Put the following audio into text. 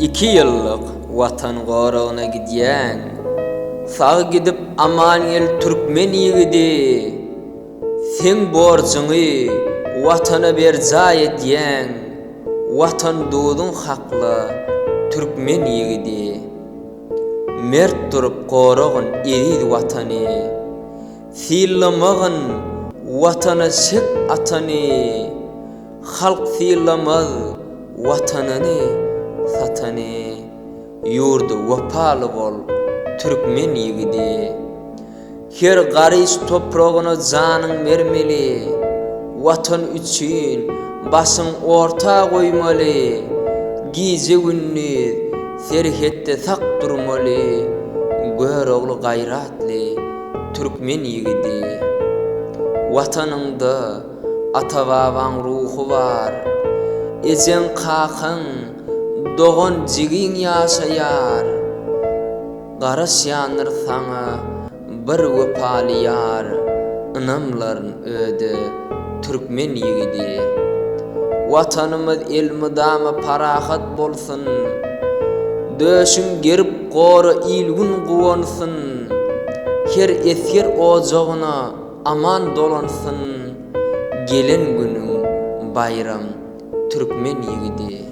Iki ýyllyk watan goragyna gidýäň. Sag gidip aman gel türkmen ýigidi. Seň borjuňy watana berjaý edýäň. Watan duzuň hakla türkmen ýigidi. Mert durup goragyn eziz watany. Sylamagyn watana çep atany. Halk sylamaz watanyny satany Ýurda wepaly bol türkmen ýigidi Her garyş topragyna janyň bermeli Watan üçin başyň orta goýmaly Gije-gündiz serhetde sak durmaly Görogly gaýratly türkmen ýigidi Watanyňda Ata-babaň ruhy bar. Ejeň-kakaň, dogan-jigiň ýaşaýar. Garaşýandyr saňa bir wepaly ýar, Ynamlaryn öde, türkmen ýigidi. Watanymyz elmydama parahat bolsun, Döşüň gerip gora il-gün guwansyn. Her esger ojagyna Aman dolansyn gelen günüň baýram türkmen ýigidi.